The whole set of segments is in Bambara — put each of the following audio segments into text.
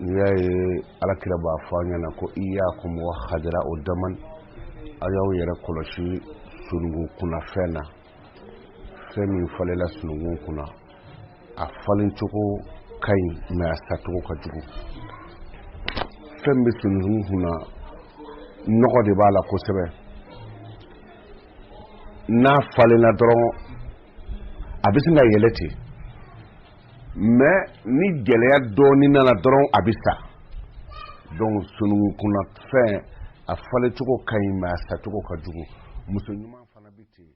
n'i y'a ye Ala kira b'a fɔ an ɲɛna ko iyakum wa hadira o daman a y'aw yɛrɛ kɔlɔsi sununkun kunna fɛn na fɛn min falela sununkun kunna a falencogo ka ɲi mɛ a sacogo ka jugu fɛn min bɛ sununkun kunna nɔgɔ de b'a la kosɛbɛ n'a falenna dɔrɔn a bɛ sin ka yɛlɛ ten mɛ ni gɛlɛya dɔɔnin nana dɔrɔn a bɛ sa donc sununkun kunna fɛn a falencogo ka ɲi mɛ a sacogo ka jugu muso ɲuman fana bɛ ten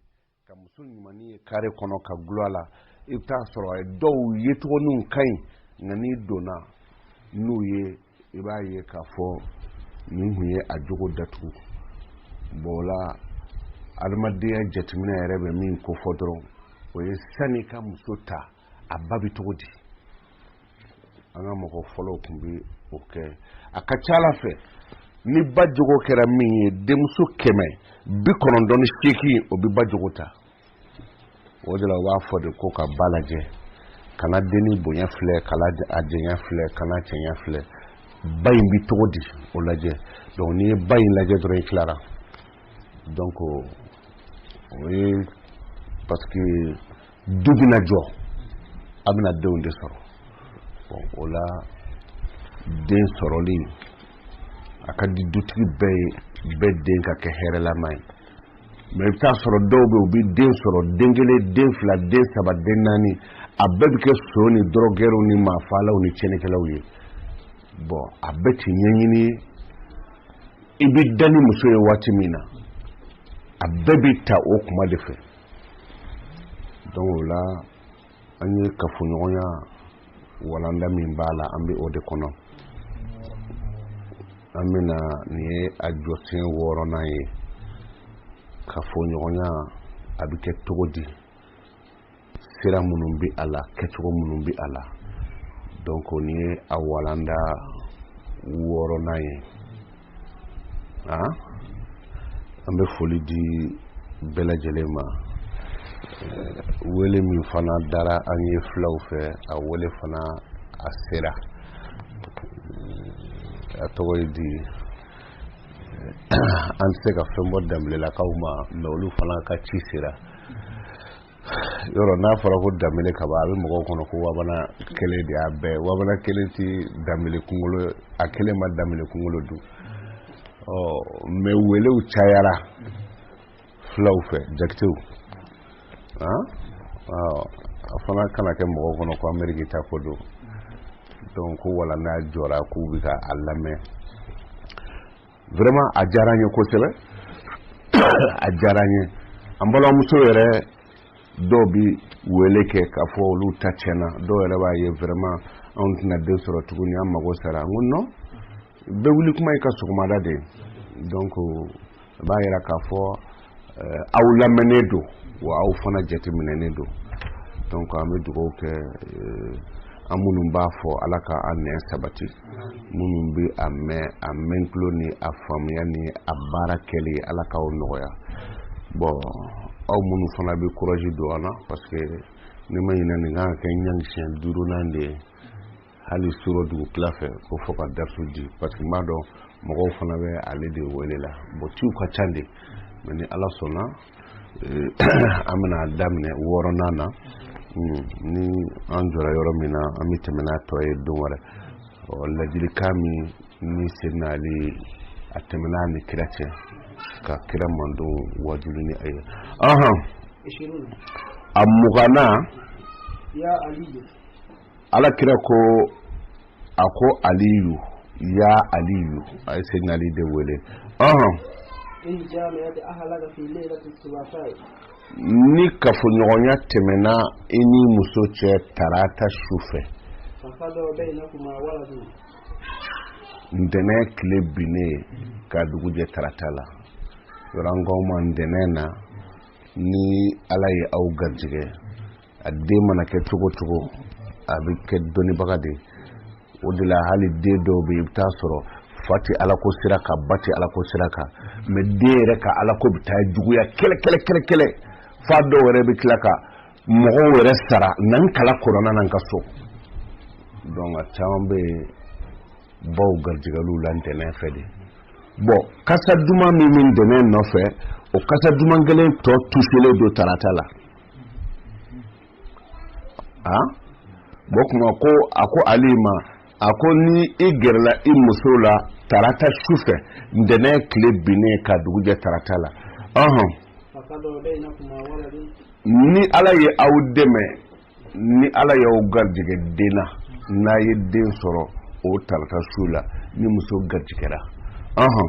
ka muso ɲumanni ye kare kɔnɔ ka gulɔ a la i bɛ taa sɔrɔ a ye dɔw yecogoninw ka ɲi nka n'i donna n'u ye i b'a ye k'a fɔ nin tun ye a jogo datugu bon o la adamadenya jateminɛ yɛrɛ bɛ min kofɔ dɔrɔn o ye sani ka muso ta a ba bɛ cogo di an ka mɔgɔ fɔlɔw tun bɛ o kɛ a ka c'a la an fɛ ni ba jogo kɛra min ye denmuso kɛmɛ bi kɔnɔntɔn ni seegin o bɛ ba jogo ta o de la u b'a fɔ de ko ka ba lajɛ kana denni bonya filɛ kana a jɛya filɛ kana cɛɲa filɛ ba in bɛ cogo di o lajɛ donc n'i ye ba in lajɛ dɔrɔn i tilara donc o ye parce que du bɛna jɔ a bɛna denw de sɔrɔ bon o la den sɔrɔli a ka di dutigi bɛɛ ye bɛɛ den ka kɛ hɛrɛlama ye Mɛ i bɛ t'a sɔrɔ dɔw bɛ u bɛ den sɔrɔ den kelen den fila den saba den naani a bɛɛ bɛ kɛ son ni dɔrɔgɛrɛw ni maafaalaw ni cɛnnikɛlaw ye bon a bɛɛ tɛ ɲɛɲini ye i bɛ da ni muso ye waati min na a bɛɛ bɛ ta o kuma de fɛ don o la an ye kafoɲɔgɔnya walanda min b'a la an bɛ o de kɔnɔ an bɛna nin ye a jɔsen wɔɔrɔnan ye kafoɲɔgɔnya a bɛ kɛ cogo di sira minnu bɛ a la kɛcogo minnu bɛ a la donc nin ye a walanda wɔɔrɔnan ye a an bɛ foli di bɛɛ lajɛlen ma wele min fana dara an ye fulaw fɛ a wele fana a sera a tɔgɔ ye di an tɛ se ka fɛn bɔ danbelelakaw ma mɛ olu fana ka ci sera yɔrɔ n'a fɔra ko danbele ka ban a bɛ mɔgɔw kɔnɔ ko wabana kelen de y'a bɛɛ wabana kelen ti danbele kunkolo a kelen ma danbele kunkolo dun ɔ mɛ welew cayara filaw fɛ jakitew a fana kana kɛ mɔgɔw kɔnɔ ko ameriki ta ko don donc ko wala n'a jɔra k'u bɛ ka a lamɛn vraiment a diyara n ye kosɛbɛ a diyara n ye an balimamuso yɛrɛ dɔw bi wele kɛ k'a fɔ olu ta tiɲɛna dɔw yɛrɛ b'a ye vraiment anw tɛna den sɔrɔ tuguni an mago sara n ko non bɛɛ wuli kuma y'i ka sɔgɔmada de ye donc a b'a yira k'a fɔ eh, aw lamɛnnen don wa aw fana jateminɛnen don donc an bɛ dugawu kɛ eh, an minnu b'a fɔ ala ka an nɛn sabati minnu bɛ a mɛn a mɛntulo ni a faamuya ni a baara kɛli ala k'aw nɔgɔya bon aw minnu fana bɛ courage don an na parce que ne ma ɲinɛ nin kan ka kɛ an ka siyɛn duurunan de ye hali surɔ dugutila fɛ ko fo ka datu di parce que n b'a dɔn mɔgɔw fana bɛ ale de wele la bon ciw ka ca dɛ mɛ ni ala sɔnna eh, an bɛna daminɛ wɔɔrɔnan na hmm, ni an jɔra yɔrɔ min na an bɛ tɛmɛ n'a tɔ ye don wɛrɛ ladilikan min bi senna ali a tɛmɛna ni kira cɛ ka kira mandon waajuli ni a ye a muganna ala kira ko a ko aliyu ya aliyu a yi sayidina ali de wele ni kafoɲɔgɔnya tɛmɛna i ni muso cɛ tarata su fɛ ntɛnɛ tile binnen ka dugujɛ tarata la yɔrɔ an k'a ma ntɛnɛ na ni ala ye aw garijɛgɛ a den mana kɛ cogo cogo a bɛ kɛ dɔnnibaga de o de la hali den dɔw bɛ i bɛ taa sɔrɔ fa tɛ alako sira kan ba tɛ alako sira kan mɛ den yɛrɛ ka alako bɛ taa juguya kɛlɛ kɛlɛ kɛlɛ kɛlɛ fa dɔw yɛrɛ bɛ tila ka mɔgɔw yɛrɛ sara na n kala kɔnɔna na n ka so donc a caman bɛ yen baw garijɛgɛliw la ntɛnɛn fɛ de bon kasa duman min bɛ ntɛnɛn nɔfɛ o kasa duman kelen tɔ tusilen don tarata la a bɔ kuma ko a ko ali ma a ko ni i gɛrɛla i muso la tarata su fɛ ntɛnɛ tile binnen ka dugujɛ tarata la ɔhɔn ni ala ye aw dɛmɛ ni ala y'aw garijɛgɛ den na n'a ye den sɔrɔ o tarata su la ni muso garijɛgɛra ɔhɔn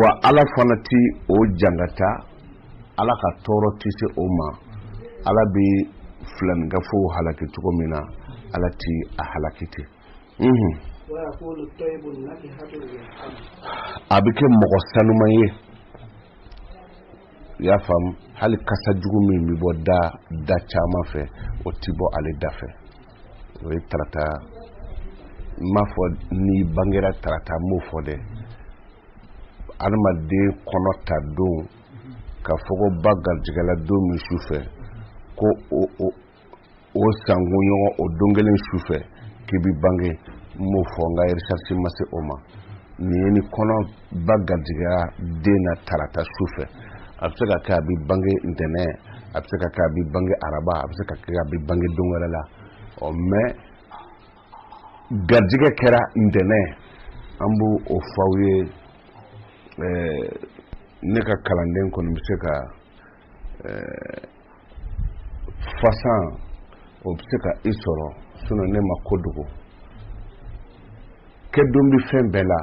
wa ala fana tɛ o jangata ala ka tɔɔrɔ tɛ se o ma ala bɛ filaninkafow halaki cogo min na ala tɛ a halaki ten mhm. a bɛ kɛ mɔgɔ sanuman ye i y'a faamu hali kasa jugu min bɛ bɔ da da caman fɛ o tɛ bɔ ale da fɛ o ye tarata n m'a fɔ n'i bangera tarata n m'o fɔ dɛ adamaden kɔnɔta don ka fɔ ko ba garijɛgɛla don min su fɛ ko o sankun ɲɔgɔn o don kelen su fɛ k'i bi bange n m'o fɔ n ka recherche ma se o ma nin ye ni kɔnɔ ba garijɛgɛya den na tarata su fɛ a bɛ se ka kɛ a bɛ bange ntɛnɛn a bɛ se ka kɛ a bɛ bange araba a bɛ se ka kɛ a bɛ bange don wɛrɛ la ɔ mɛ garijɛgɛ kɛra ntɛnɛn an b'o fɔ aw ye ne ka kalanden kɔni bɛ se ka fasan o bɛ se ka i sɔrɔ sinon ne ma ko dogo kɛ don bɛ fɛn bɛɛ la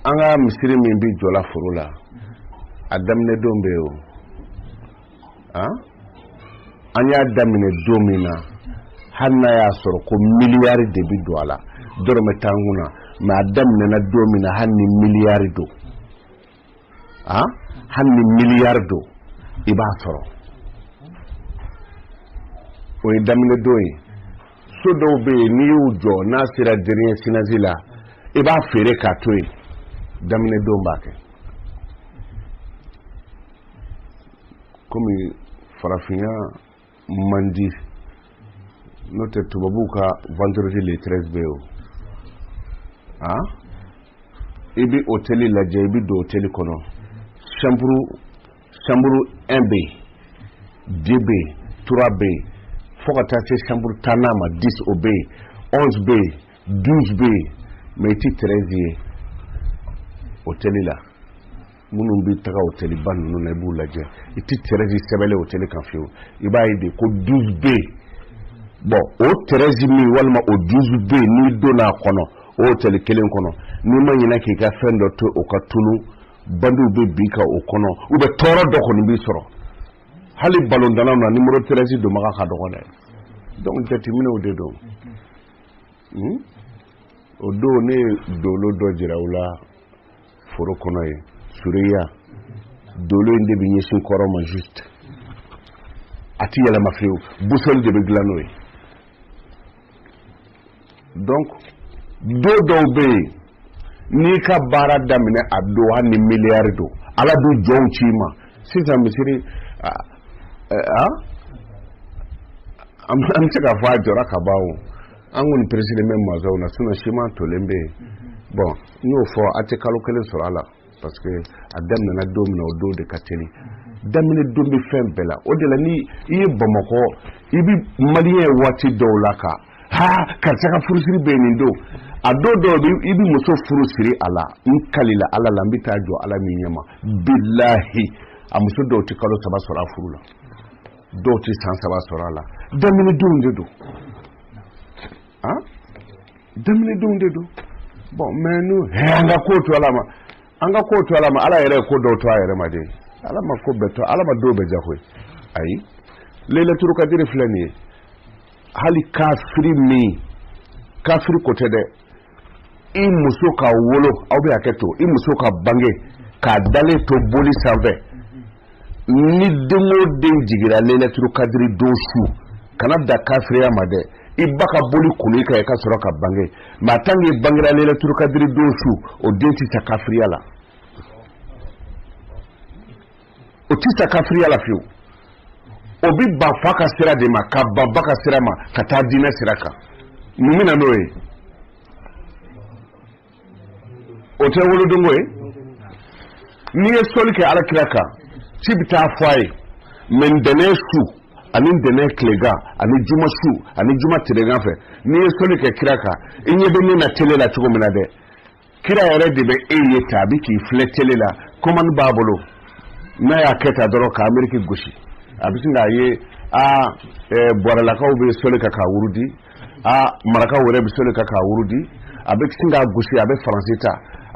an ka misiri min bɛ jɔ la foro la a daminɛ don bɛ yen o an y'a daminɛ don min na hali n'a y'a sɔrɔ ko miliyari de bɛ don a la dɔrɔmɛ t'an kun na mɛ a daminɛna don min na hali ni miliyari don hali ni miliyari don i b'a sɔrɔ o ye daminɛ don ye so dɔw bɛ yen n'i y'u jɔ n'a sera dernier chaînage la i b'a feere k'a to yen daminɛ don b'a kɛ kɔmi farafinya man di n'o tɛ tubabuw ka vendredi le 13 bɛ yen o a i bɛ hoteli lajɛ i bɛ don hoteli kɔnɔ chambre chambre 1 bɛ yen 2 bɛ yen 3 bɛ yen fo ka taa se chambre tannan ma 10 o bɛ yen 11 bɛ yen 12 bɛ yen mais i tɛ 13 ye hoteli la. minnu bɛ taga oteliba ninnu na i b'u lajɛ i tɛ tɛrɛzi sɛbɛnlen oteli kan fiyewu i b'a ye de ko duzu bɛ yen bɔn o tɛrɛzi min walima o duzu bɛ yen n'i donna a kɔnɔ oteli kelen kɔnɔ n'i ma ɲinɛ k'i ka fɛn dɔ to o ka tunu bandiw bɛ bin i kan o kɔnɔ u bɛ tɔɔrɔ dɔ kɔni b'i sɔrɔ hali balontannaw na nimoro tɛrɛzi donbaga ka dɔgɔ dɛ donc jateminɛw de don hmm? o don ne ye dolo dɔ jira u la foro kɔnɔ yen sureya dolo in de bɛ ɲɛsin kɔrɔn ma juste a ti yɛlɛma fiyewu busɔli de bɛ dilan n'o ye donc don dɔw bɛ yen n'i ka baara daminɛ a don hali ni miliyari don ala bɛ jɔnw ci i ma sisan misiri a an bɛ se k'a fɔ a jɔra ka ban o an kɔni peresilen bɛ masɔnw na sinɔn siman tolen bɛ yen bɔn n y'o fɔ a tɛ kalo kelen sɔrɔ a la parce que a daminɛna don min na o don de ka teli daminɛ don bɛ fɛn bɛɛ la o de la ni i ye bamakɔ i bɛ maliyɛn waati dɔw la ko ha karisa ka furusiri bɛ nin don a don dɔw bɛ i bɛ muso furu siri a la n kalila ala la n bɛ taa jɔ ala min ɲɛma bilahi a muso dɔw tɛ kalo saba sɔrɔ a furu la dɔw tɛ san saba sɔrɔ a la daminɛ donw de don ah daminɛ donw de don bɔn mais n'u an ka ko to ala ma an ka ko to ala ma ala yɛrɛ ye ko dɔw to a yɛrɛ ma de ala ma ko bɛɛ to ala ma dɔw bɛɛ jago ye ayi lelatul kadiri filɛ nin ye hali kafiri min kafiri ko tɛ dɛ i muso ka wolo aw bɛ hakɛ to i muso ka bange k'a dalen to boli sanfɛ ni den o den jiginna lelatul kadiri don su kana da kafiriya ma dɛ i ba ka boli kulu i kan i ka sɔrɔ ka bange mais tant que i bangera lelatul kadiri don su o den tɛ sa kafiriya la o tɛ sa kafiriya la fiyewu o bɛ ban fa ka sira de ma ka ban ba ka sira ma ka taa diinɛ sira kan mun bɛ na n'o ye o tɛ wolodonko ye n'i ye sɔli kɛ ala kira kan ci bɛ taa fɔ a ye mais ntɛnɛn su ani ntɛnɛn tilegan ani juma su ani juma tilegan fɛ n'i ye sɔli kɛ kira kan i ɲɛ bɛ ne na tele la cogo min na dɛ kira yɛrɛ de bɛ e ye tan a bɛ k'i filɛ tele la kɔmandi b'a bolo n'a y'a kɛ tan dɔrɔn ka ameriki gosi a bɛ sin k'a ye aa bɔrɛlakaw bɛ sɔli kan k'a wurudi aa maraka wɛrɛ bɛ soli kan k'a wurudi a bɛ sin k'a gosi a bɛ faransi ta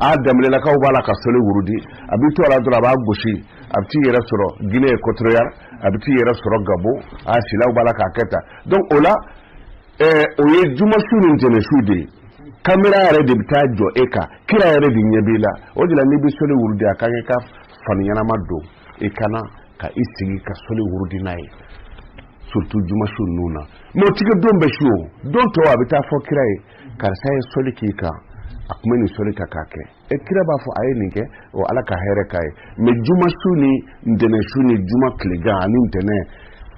a danbelelakaw b'a la ka soli wurudi a bɛ to a la dɔrɔn a b'a gosi a bɛ t'i yɛrɛ sɔrɔ guinée équatoriale a bɛ t'i yɛrɛ sɔrɔ gabɔn a silaw b'a la k'a kɛ tan donc o la eh, o ye juma su ni ntɛnɛn su de ye kamera yɛrɛ de bɛ taa jɔ e kan kira yɛrɛ de ɲɛ b'i la o de la n'i bɛ soli wurudi a ka kan ka fani ɲɛnama don i ka na ka i sigi ka soli wurudi n'a ye surtout juma su ninnu na mɛ tiɲɛ don bɛ su o don tɔw a bɛ taa fɔ kira ye karisa ye sɔli k'i kan a tun bɛ nin sɔli ka k'a kɛ e kira b'a fɔ a ye nin kɛ o ala ka hɛrɛ k'a ye mɛ juma su ni ntɛnɛ su ni juma tilegan ani ntɛnɛ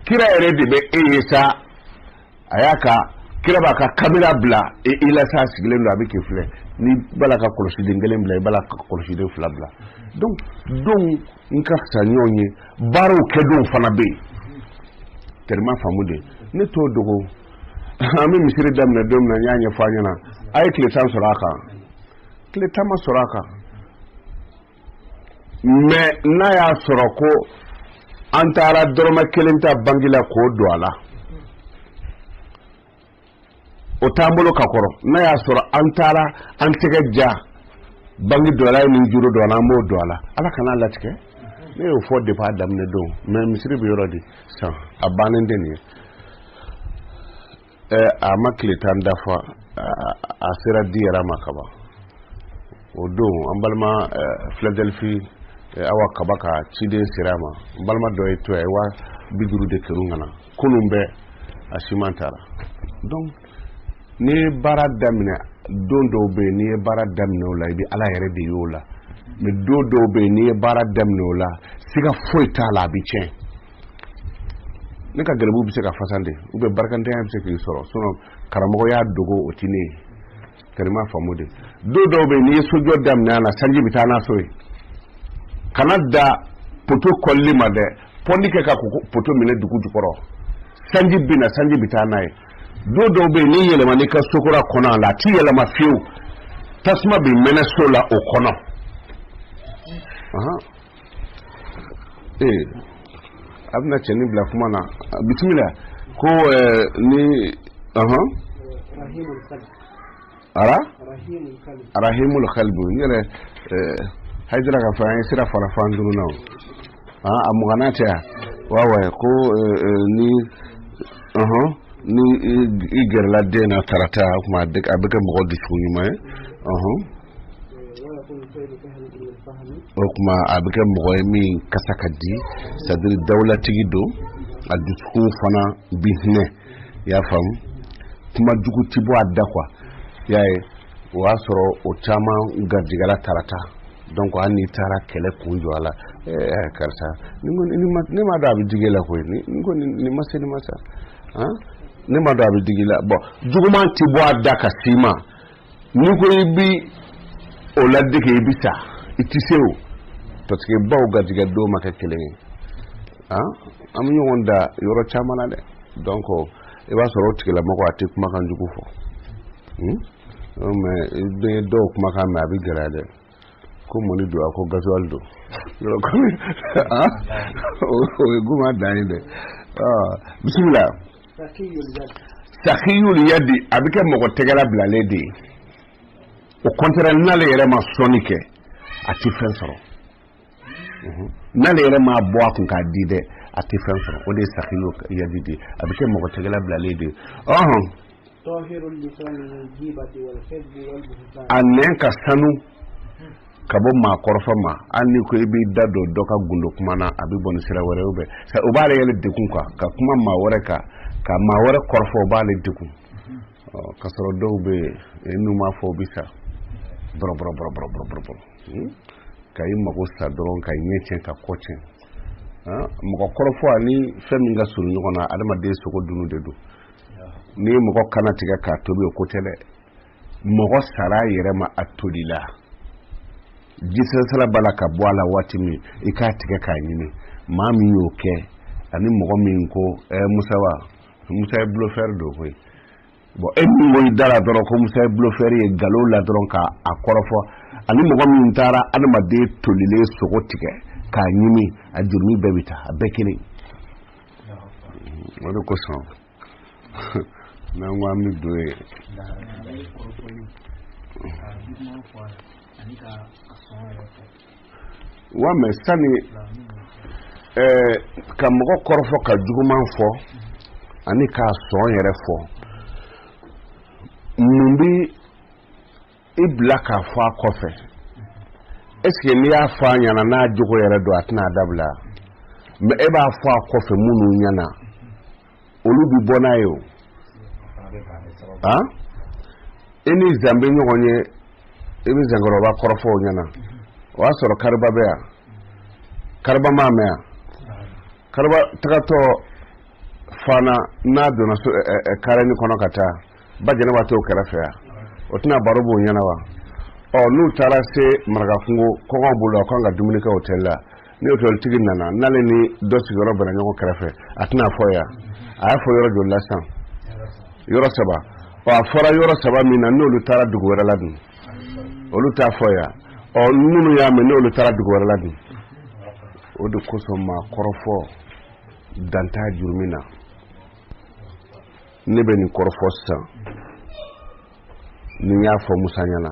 kira yɛrɛ de bɛ e ye sa a y'a ka kira b'a ka kamera bila e i la sa sigilen don a bɛ k'i filɛ n'i b'a la ka kɔlɔsiden kelen bila i b'a la ka kɔlɔsiden fila bila donc donw ka fisa ɲɔgɔn ye baaraw kɛ don fana bɛ yen tɛma faamu de ne t'o dogo an bɛ misiri daminɛ don min na n y'a ɲɛfɔ aw ɲɛna a ye tile tan sɔrɔ a kan tile tan ma sɔrɔ a kan mɛ n'a y'a sɔrɔ ko an taara dɔrɔmɛ kelen ta banki la k'o don a la o t'an bolo ka kɔrɔ n'a y'a sɔrɔ an taara an tɛgɛ ja banki dɔ la ni juru dɔ la an b'o don a la ala kan'a latigɛ ne y'o fɔ depuis a daminɛ don mɛ misiri bɛ yɔrɔ di san a bannen tɛ nin ye ɛ a ma tile tan dafa a sera di yɛrɛ ma kaban o don an balima filadelfi awa kaba ka ciden sera an ma n balima dɔ ye to ye wa bi duuru de kerun ka na kunun bɛɛ a siman taara donc n'i ye baara daminɛ don dɔw bɛ yen n'i ye baara daminɛ o la i bɛ ala yɛrɛ de y'o la mɛ don dɔw bɛ yen n'i ye baara daminɛ o la siga foyi t'a la a bɛ tiɲɛ n'i ka gɛlɛbugu bɛ se ka fasan de u bɛ barikantanya bɛ se k'i sɔrɔ sinɔn karamɔgɔ y'a dogo o tɛ ne ye kadi ma faamu de don dɔw bɛ n'i ye sojɔ daminɛ a la sanji bɛ taa n'a so ye kana da poto kɔlili ma dɛ pɔndi kɛ ka poto minɛ dugu jukɔrɔ sanji bɛ na sanji bɛ taa n'a ye don dɔw bɛ yen n'i yɛlɛma n'i ka sokura kɔnɔ a la a ti yɛlɛma fiyewu tasuma bɛ mɛnɛ so la o kɔnɔ ee an bɛna cɛnin bila kuma na bisimila ko ni ɔhɔn ara arahimul kalbu n'i yɛrɛ hajira ka fɔ an ye sira fara fan duuru na o a mugana tɛ yan wawa ko ni ɔhɔn ni i gɛrɛla den na tarata o tuma a bɛ kɛ mɔgɔ dusukun ɲuman ye ɔhɔn o kuma a bɛ kɛ mɔgɔ ye min kasa ka di c'est-à-dire dawulatigi don a dusukun fana bi hinɛ i y'a faamu kuma jugu ti bɔ a da quoi i y'a ye o y'a sɔrɔ o caman garijigɛla tarata donc hali n'i taara kɛlɛ kun jɔ a la karisa ne m'a dɔn a bɛ digi i la koyi ni ko nin ma se nin ma sa ne m'a dɔn a bɛ digi i la bon juguman ti bɔ a da ka s'i ma ni ko i bi o ladege i bi sa i ti se o parce que baw garijɛgɛ don ma kɛ kelen ye ah, an bɛ ɲɔgɔn dan yɔrɔ caman na dɛ donc i b'a sɔrɔ o tigilamɔgɔ a tɛ kumakan jugu fɔ hmm? mais i bɛ dɔw kumakan mɛn a bɛ gɛlɛya dɛ ko mɔni don a ko gazuwali don yɔrɔ kɔmi ah, o ye goman dan ye dɛ ah, bisimila sakiyul yadi a bɛ kɛ mɔgɔ tɛgɛ labilalen de ye au contraire n'ale yɛrɛ ma sɔnni kɛ a tɛ fɛn sɔrɔ n'ale yɛrɛ m'a bɔ a kun k'a di dɛ a tɛ fɛn sɔrɔ o de ye sakiyul yadi de a bɛ kɛ mɔgɔ tɛgɛ labilalen de ɔhɔn a nɛn ka sanu ka bɔ maa kɔrɔfɔ ma hali ni ko i b'i da don dɔ ka gundo kuma na a bɛ bɔ ni sira wɛrɛ ye o b'ale yɛrɛ degun ka kuma maa wɛrɛ kan ka maa wɛrɛ kɔrɔfɔ o b'ale degun k'a sɔrɔ dɔw bɛ yen n'u m'a fɔ u bɛ sa bɔrɔbɔrɔbɔrɔbɔrɔbɔrɔ hmm? ka i mago sa dɔrɔn ka ɲɛ tiɲɛ ka kɔ tiɲɛ mɔgɔ kɔrɔfɔ ani fɛn min ka surun ɲɔgɔn na adamaden sogo dunu de don n'i ye mɔgɔ kannatigɛ k'a tobi o ko tɛ dɛ mɔgɔ sara yɛrɛ ma a tolila jisɛsɛla b'a la ka bɔ a la waati min i k'a tigɛ k'a ɲimi maa min y'o kɛ ani mɔgɔ min ko ɛɛ musawa musa ye bluffeur don koyi bon e min ko i da la dɔrɔn ko musa ye bluffeur ye ngalon na dɔrɔn k'a kɔrɔfɔ ani mɔgɔ min taara adamaden tolilen sogo tigɛ k'a ɲimi a jurumu bɛɛ bɛ taa a bɛɛ kelen o de kosɔn n'an ko an bɛ don ye ani ka a sɔn yɛrɛ fɔ wa mɛ sani ka mɔgɔ kɔrɔfɔ ka juguman fɔ ani k'a sɔn yɛrɛ fɔ mun bi i bila k'a fɔ a kɔfɛ est-ce que n'i y'a fɔ a ɲɛna n'a jogo yɛrɛ don a tɛna a dabila mais e b'a fɔ a kɔfɛ minnu ɲɛna olu bɛ bɔ n'a ye o e ni zan bɛ ɲɔgɔn ye i bɛ zankɔrɔba kɔrɔfɔ o ɲɛna o y'a sɔrɔ kariba bɛ yan kariba m'a mɛn yan kariba tagatɔ fana n'a donna karɛni kɔnɔ ka taa ba jɛnɛba t'o kɛrɛfɛ yan o tɛna baro b'o ɲɛna wa ɔ n'u taara se marakakungo kɔngɔ b'u la u ka kan ka dumuni kɛ otɛli la ni otoritigi nana n'ale ni dɔ sigiyɔrɔ bɛnna ɲɔgɔn kɛrɛfɛ a tɛna fɔ yan a y'a fɔ yɔrɔ joli la sisan yɔrɔ saba ɔ a fɔra yɔrɔ saba min na n'olu taara dugu wɛrɛ la dun olu t'a fɔ yan ɔ minnu y'a mɛn n'olu taara dugu wɛrɛ la dun o de kosɔn maa kɔrɔfɔ dan t'a jurumi na ne bɛ nin kɔrɔfɔ sisan ni n y'a fɔ musa ɲɛna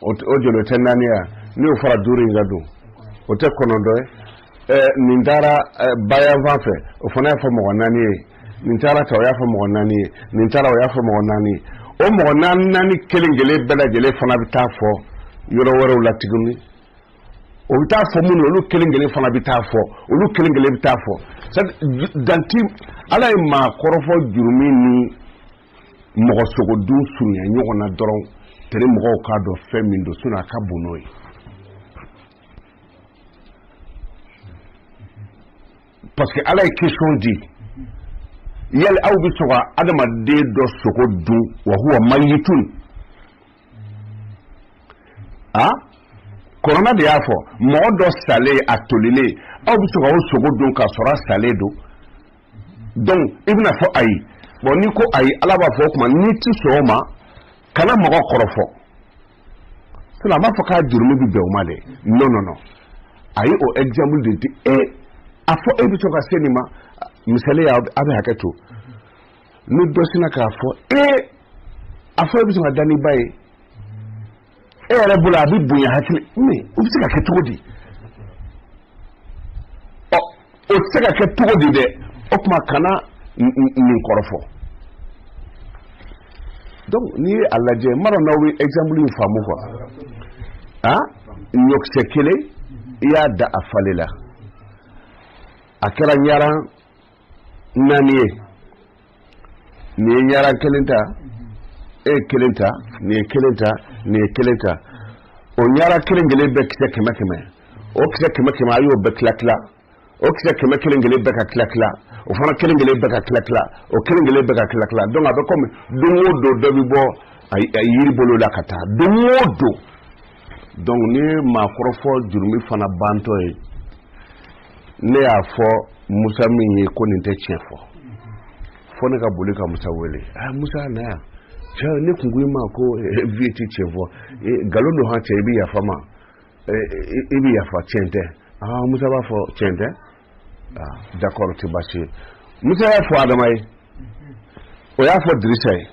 o joli tɛ naani ye n'o fara duuru in kan dun o tɛ kɔnɔntɔn ye eh, nin taara eh, bayanfan fɛ o fana y'a fɔ mɔgɔ naani ye nin taara ta o y'a fɔ mɔgɔ naani ye nin taara o y'a fɔ mɔgɔ naani ye o mɔgɔ naani naani kelen kelen bɛɛ lajɛlen fana bɛ taa fɔ yɔrɔ wɛrɛw la tuguni o bɛ taa fɔ minnu olu kelen kelen fana bɛ taa fɔ olu kelen kelen bɛ taa fɔ dan ti a la ye maa kɔrɔfɔ jurumi ni mɔgɔ sogodun surunya ɲɔgɔn na dɔrɔn tɛre mɔgɔw k'a dɔn fɛn min don sinon a ka bon n'o ye parce que ala ye question di yali aw bɛ sɔn ka adamaden dɔ sogo dun wa huwa mayitun alkurana de y'a fɔ mɔgɔ dɔ salen a tolilen aw bɛ sɔn ka o sogo dun k'a sɔrɔ a salen don donc i bɛn'a fɔ ayi bon n'i ko ayi ala b'a fɔ o tuma n'i ti sɔn o ma kana mɔgɔ kɔrɔfɔ sinon a m'a fɔ k'a jurumu bɛ bɛn o ma dɛ non non non a ye o exemple de di e a fɔ e bɛ sɔn ka se nin ma misali la aw bɛ hakɛ to ni dɔ sinna k'a fɔ e a fɔ e bɛ sɔn ka da n'i ba ye e yɛrɛ bolo a bɛ bonya hakili ma o bɛ se ka kɛ cogo di ɔ o tɛ se ka kɛ cogo di dɛ o tuma kana nin kɔrɔfɔ donc n'i ye a lajɛ n m'a dɔn n'aw bɛ exemple in faamu quoi a ɲɔkisɛ kelen i y'a dan a falenna a kɛra ɲaran naani ye nin ye ɲaran kelen ta e ye kelen ta nin ye kelen ta nin ye kelen ta o ɲaran kelen kelen bɛɛ kisɛ kɛmɛ kɛmɛ o kisɛ kɛmɛ kɛmɛ a y'o bɛɛ tila tila o kisɛ kɛmɛ kelen kelen bɛɛ ka tila tila o fana kelen kelen bɛɛ ka tila tila o kelen kelen bɛɛ ka tila tila donc a bɛ kɔmi don o don dɔ bɛ bɔ a yiri bolo la ka taa don o don donc nin ye maa kɔrɔfɔ jurumi fana bantɔ ye ne y'a fɔ musa min ye ko nin tɛ tiɲɛ fɔ fo ne ka boli ka musa wele aa musa na yan cɛ ne kun ko i ma ko eh, vieux ti tiɲɛ fɔ eh, nkalon don han cɛ i bɛ yafa n ma eh, i bɛ yafa tiɲɛ tɛ aa musa b'a fɔ tiɲɛ tɛ aa d'accord tɛ baasi ye musa y'a fɔ adama ye o y'a fɔ dirisa ye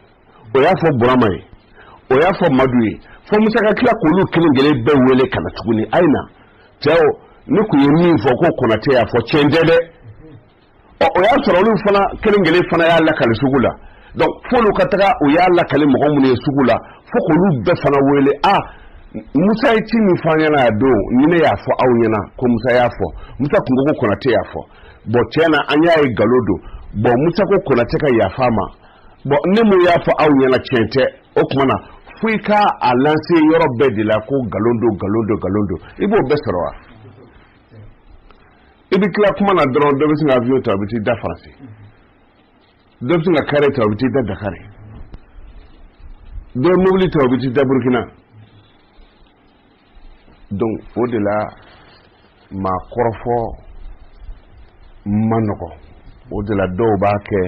o y'a fɔ burama ye o y'a fɔ madu ye fo musa ka tila k'olu kelen kelen bɛɛ wele ka na tuguni a ye na cɛw ne tun ye min fɔ ko konatɛ y'a fɔ tiɲɛ tɛ dɛ ɔ o y'a sɔrɔ olu fana kelen kelen fana y'a lakali sugu la donc f'olu ka taga o y'a lakali mɔgɔ minnu ye sugu la fo k'olu bɛɛ fana wele a musa ye ci min fɔ an ɲɛna a don ni ne y'a fɔ aw ɲɛna ko musa y'a fɔ musa tun ko ko konatɛ y'a fɔ bɔn tiɲɛ na an y'a ye nkalon don bɔn musa ko konatɛ ka yafa a ma bɔn ne min y'a fɔ aw ɲɛna tiɲɛ tɛ o tuma na fo i ka a lanse yɔrɔ bɛɛ de la ko nkalon don nkalon don nkalon don i b'o bɛɛ sɔrɔ wa i bɛ tila kuma na dɔrɔn dɔ bɛ sin ka avion ta a bɛ t'i da faransi dɔ bɛ sin ka kare ta a bɛ t'i da dakari dɔ ye mobili ta a bɛ t'i da burukina donc o de la maa kɔrɔfɔ man nɔgɔ o de la dɔw b'a kɛ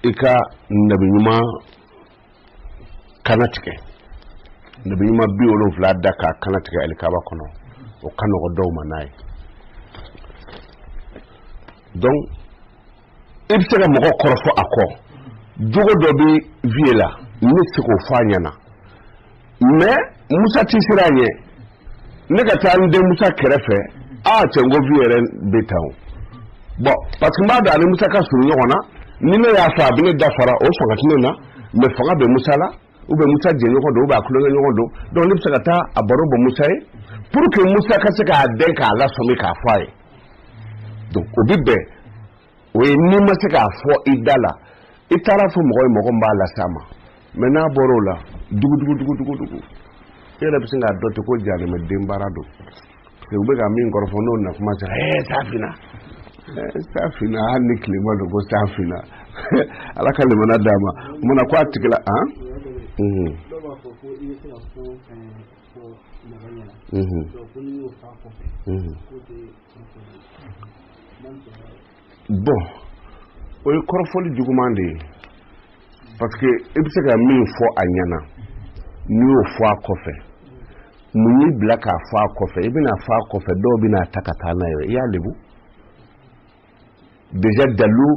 i ka nabi ɲuman kannatigɛ nabi ɲuman biwolonfila da k'a kannatigɛ alikaba kɔnɔ o ka nɔgɔ dɔw ma n'a ye donc i bɛ se ka mɔgɔ kɔrɔfɔ a kɔ jogo dɔ bɛ vieux la ne tɛ se k'o fɔ a ɲɛna mais Musa tɛ siran a ɲɛ ne ka taa n den Musa kɛrɛfɛ aa cɛ n ko vieux yɛrɛ bɛ tan o bɔn parce que n b'a dɔn ani Musa ka surun ɲɔgɔn na ni ne y'a fɔ a bɛ ne dafara o fanga tɛ ne na mais fanga bɛ Musa la u bɛ musa jɛɲɔgɔn don u b'a tulonkɛɲɔgɔn don donc ne bɛ se ka taa a baro bɔ musa ye pour que musa ka se k'a dɛn k'a lasɔmi k'a fɔ a ye donc o bɛ bɛn o ye n'i ma se k'a fɔ i da la i taara a fɔ mɔgɔ ye mɔgɔ min b'a las'a ma mais n'a bɔra o la dugudugudugudugudugu e yɛrɛ bɛ sin k'a dɔn ten ko jahanama den baara don u bɛ ka min kɔrɔfɔ n'o na kuma sera ɛɛ san finna san finna hali ni tilema don ko san finna ala ka limana d'a ma munna ko a tigi nana Mm-hmm. bɔn o ye kɔrɔfɔli juguman de ye parce que i bɛ se ka min fɔ a ɲɛna n'i y'o fɔ a kɔfɛ mun y'i bila k'a fɔ a kɔfɛ i bɛna a fɔ a kɔfɛ dɔw bɛna a ta ka taa n'a ye i y'a lebu déjà dalu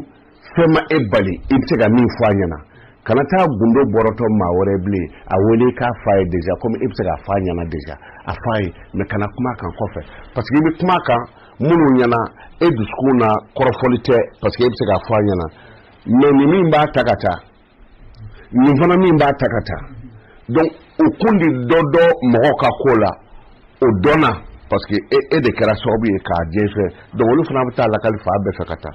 fɛn ma e bali i bɛ se ka min fɔ a ɲɛna kana taa gundo bɔrɔtɔ maa wɛrɛ bilen a wele k'a f'a ye déjà komi e bɛ se k'a fɔ a ɲɛna déjà a f'a ye mais kana kuma a kan kɔfɛ parce que i bɛ kuma a kan minnu ɲɛna e dusukun na kɔrɔfɔli tɛ parce que e bɛ se k'a fɔ a ɲɛna mais nin min b'a ta ka taa nin fana min b'a ta ka taa donc o kun de dɔ dɔ mɔgɔ ka ko la o dɔnna parce que e, e de kɛra sababu ye k'a jɛnsɛn donc olu fana bɛ taa a lakali fan bɛɛ fɛ ka taa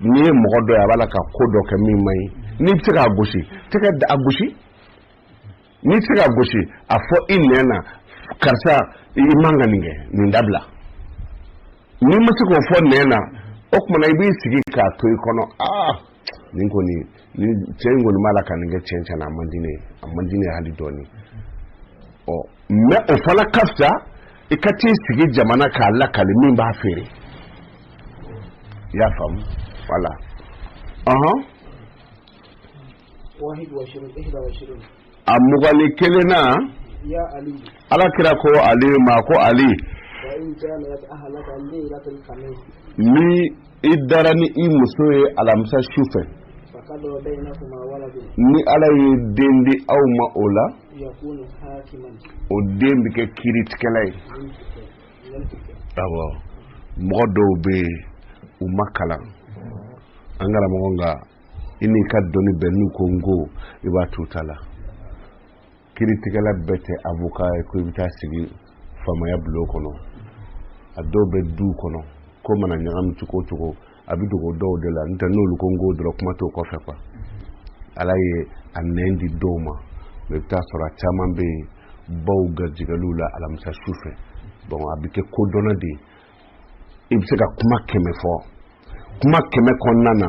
N'i ye mɔgɔ dɔ ye a b'a la ka ko dɔ kɛ min man ɲi n'i bɛ se k'a gosi tɛgɛ la a gosi n'i tɛ se k'a gosi a fɔ i nɛn na karisa i man ka nin kɛ nin dabila n'i ma se k'o fɔ nɛn na o tuma na i b'i sigi k'a to i kɔnɔ aa nin kɔni ni cɛ in kɔni b'a la ka nin kɛ cɛn cɛn na a man di ne ye a man di ne ye hali dɔɔni ɔ mɛ o fana ka fisa i ka t'i sigi jama na k'a lakali min b'a feere i y'a faamu wala ɔhɔn a mugan ni kelen na ala kira ko ali ma ko ali ni i dara ni i muso ye alamisa su fɛ ni ala ye den di aw ma o la o den bɛ kɛ kiritigɛla ye awɔ mɔgɔ dɔw bɛ yen u ma kalan an karamɔgɔ nka i n'i ka dɔnni bɛɛ n'u ko n ko i b'a t'u ta la kiritigɛla bɛɛ tɛ avoka ye ko i bɛ taa sigi faamaya bulon kɔnɔ a dɔw bɛ du kɔnɔ ko mana ɲagami cogo cogo a bɛ dogo dɔw de la n'o tɛ n'olu ko n ko dɔrɔn kuma t'o kɔfɛ kuwa ala ye a nɛn di dɔw ma mɛ i bɛ taa sɔrɔ a caman bɛ yen baw garijɛgɛliw la alamisa su fɛ bɔn a bɛ kɛ kodɔnna de ye i bɛ se ka kuma kɛmɛ fɔ kuma kɛmɛ kɔnɔna na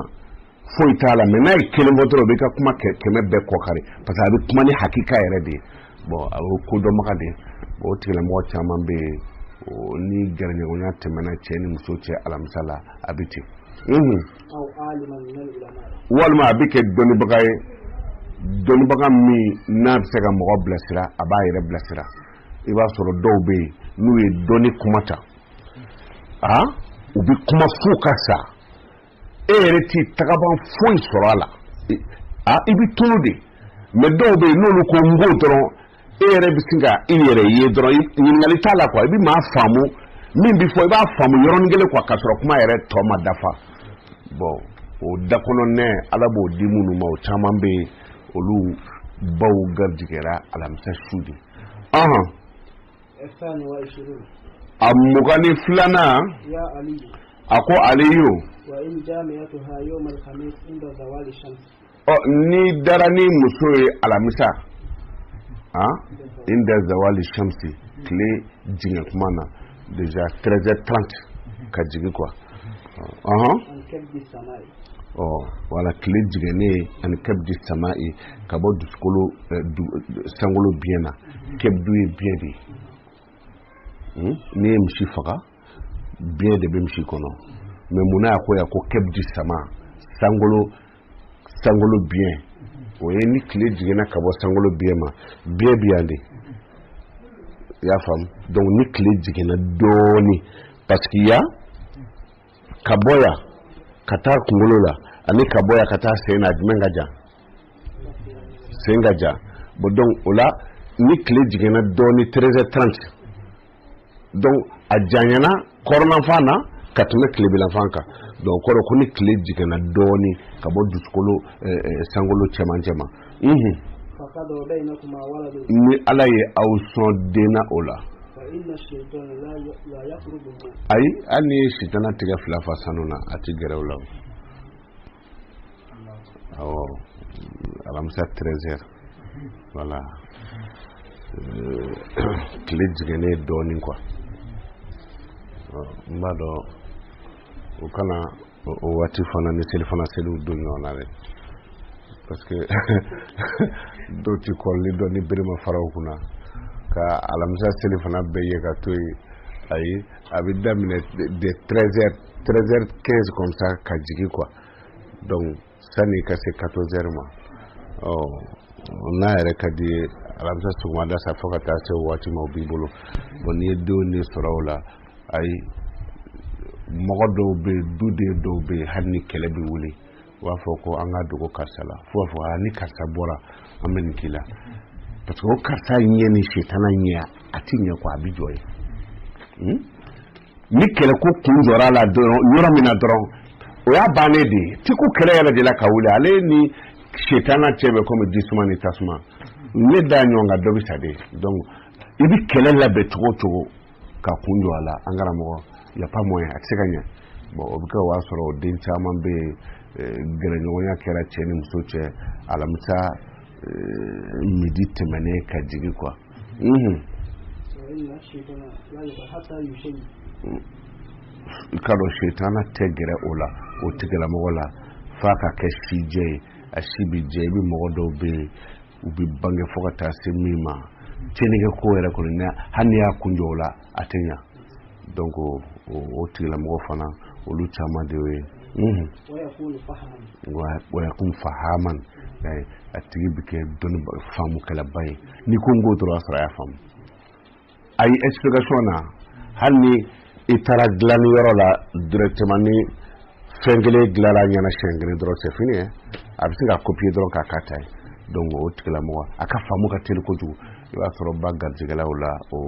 foyi t'a la mɛ n'a ye kelen fɔ dɔrɔn o b'i ka kuma kɛmɛ bɛɛ kɔkari parce que a bɛ kuma ni hakika yɛrɛ de ye bɔn a bɛ kodɔnbaga de ye o tigilamɔgɔ caman bɛ yen ni gɛrɛɲɔgɔnya tɛmɛna cɛ ni muso cɛ alamisa la a bɛ ten walima a bɛ kɛ dɔnnibaga ye dɔnnibaga min n'a bɛ se ka mɔgɔ bilasira a b'a yɛrɛ bilasira i b'a sɔrɔ dɔw bɛ yen n'u ye dɔnni kuma ta a u bɛ kuma fo ka sa e yɛrɛ t'i tagaban foyi sɔrɔ a la a i bɛ tulu de mɛn dɔw bɛ yen n'olu ko n ko dɔrɔn e yɛrɛ bɛ sin ka i yɛrɛ ye dɔrɔn ɲininkali t'a la kuwa i bɛ maa faamu min bɛ fɔ i b'a faamu yɔrɔnin kelen kuwa k'a sɔrɔ kuma yɛrɛ tɔ ma dafa bɔn o da kɔnɔ nɛn ala b'o di minnu ma o caman bɛ yen olu baw garijɛgɛra alamisa su de a mugan ni filanan a ko aliyu n'i dara n'i muso ye alamisa inda zawali shamsi tile jɛngɛ kuma na Déjà treize heures trente ka jigin kuwa ɔɔn ɔ wala tile jiginnen ani kabdi sama ye ka bɔ dugukolo sankolo biɲɛ na kabdu ye biɲɛ de ye n'i ye misi faga biɲɛ de bɛ misi kɔnɔ mɛ munna a ko yan ko kabdi sama sankolo sankolo biɲɛ o ye ni tile jiginna ka bɔ sankolo biɲɛ ma biɲɛ bi yan de i y'a faamu dɔnku ni tile jiginna dɔɔni paseke yan ka bɔ yan ka taa kunkolo la ani ka bɔ yan ka taa sen na jumɛn ka jan sen ka jan bɔn dɔnku o la ni tile jiginna dɔɔni treize heures trente dɔnku a janyana kɔrɔnanfan na ka tɛmɛ tilebilanfan kan dɔnku o kɔrɔ ko ni tile jiginna dɔɔni ka bɔ dusukolo sankolo cɛmancɛ ma ni ala ye aw sɔn den na o la ayi hali n'i ye sitana tigɛ fila fa sanu na a tɛ gɛrɛ o la awo alamisa treize heures wala tile jiginnen dɔɔnin kuwa n b'a dɔn u kana o waati fana ni selifana seliw don ɲɔgɔn na dɛ parce que dɔw ti kɔrɔli dɔn ni berema faraw kunna ka alamisa selifana bɛɛ ye ka to yen ayi a bɛ daminɛ de 13 heures treize heures quinze comme ça ka jigin kuwa donc sani ka se quatorze heures ma ɔ n'a yɛrɛ ka di i ye alamisa sɔgɔmada sa fo ka taa se waati ma o b'i bolo bɔn n'i ye denw de sɔrɔ o la ayi mɔgɔ dɔw bɛ yen duden dɔw bɛ yen hali ni kɛlɛ bɛ wuli u b'a fɔ ko an ka dogo karisa la fo b'a fɔ a ni karisa bɔra an bɛ nin k'i la parce que o karisa ɲɛ ni setana ɲɛ a ti ɲɛ ko a bi jɔ yen hmm? ni kɛlɛko kun jɔra a la dɔrɔn yɔrɔ min na dɔrɔn o y'a bannen de ye ti ko kɛlɛ yɛrɛ de la ka wuli ale ni setana cɛ bɛ komi jisuma ni tasuma ne da ɲɔgɔn kan dɔ bɛ sa de donc i bi kɛlɛ labɛn cogo o cogo ka kun jɔ a la an karamɔgɔ y a pas moyen a tɛ se ka ɲɛ bɔn o bɛ kɛ o y'a sɔrɔ den caman bɛ yen eh, gɛrɛɲɔgɔnya kɛra cɛ ni muso cɛ alamisa eh, midi tɛmɛnen ka jigin kuwa i k'a dɔn setana tɛ gɛrɛ o la o tigilamɔgɔ la f'a ka kɛ sijɛ ye a si bɛ jɛ i bɛ mɔgɔ dɔw bɛ yen u bɛ bange fo ka taa se min ma tiɲɛnikɛ ko yɛrɛ kɔni na hali n'i y'a kun jɔ o la a tɛ ɲa donc o tigilamɔgɔ fana olu caman de ye wayakun fahaman a tigi bɛ kɛ dɔnni faamukɛlaba ye n'i ko n k'o dɔrɔn a sɔrɔ a y'a faamu a ye explication na hali ni i taara dilanni yɔrɔ la directement ni fɛn kelen dilanna a ɲɛna siyɛn kelen dɔrɔn c'est fini a bɛ se k'a copier dɔrɔn k'a ka ta ye don o tigilamɔgɔ a ka faamu ka teli kojugu i b'a sɔrɔ b'a garijɛgɛ la o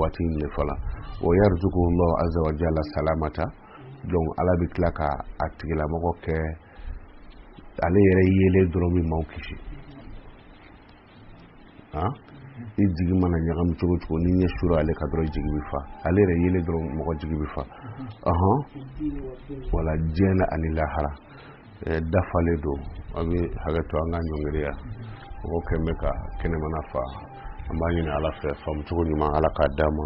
waati in de fɔlɔ o yarzuquhu llahu azza wa jalla salamata don ala bɛ tila ka a tigilamɔgɔ kɛ ale yɛrɛ yelen dɔrɔn bɛ maaw kisi ah i jigi mana ɲagami cogo cogo ni i ɲɛ sera ale kan dɔrɔn jigi bɛ fa ale yɛrɛ yelen dɔrɔn mɔgɔ jigi bɛ fa ɔhɔn wala diɲɛ na ani lahara dafalen don a bɛ hakɛ to an ka ɲɔngiriya mɔgɔ kɛn bɛ ka kɛnɛmana fa an b'a ɲini ala fɛ faamucogo ɲuman ala k'a d'an ma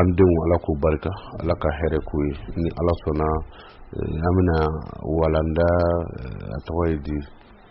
an denw ala k'u barika ala ka hɛrɛ k'u ye ni ala sɔnna an bɛna walanda a tɔgɔ ye di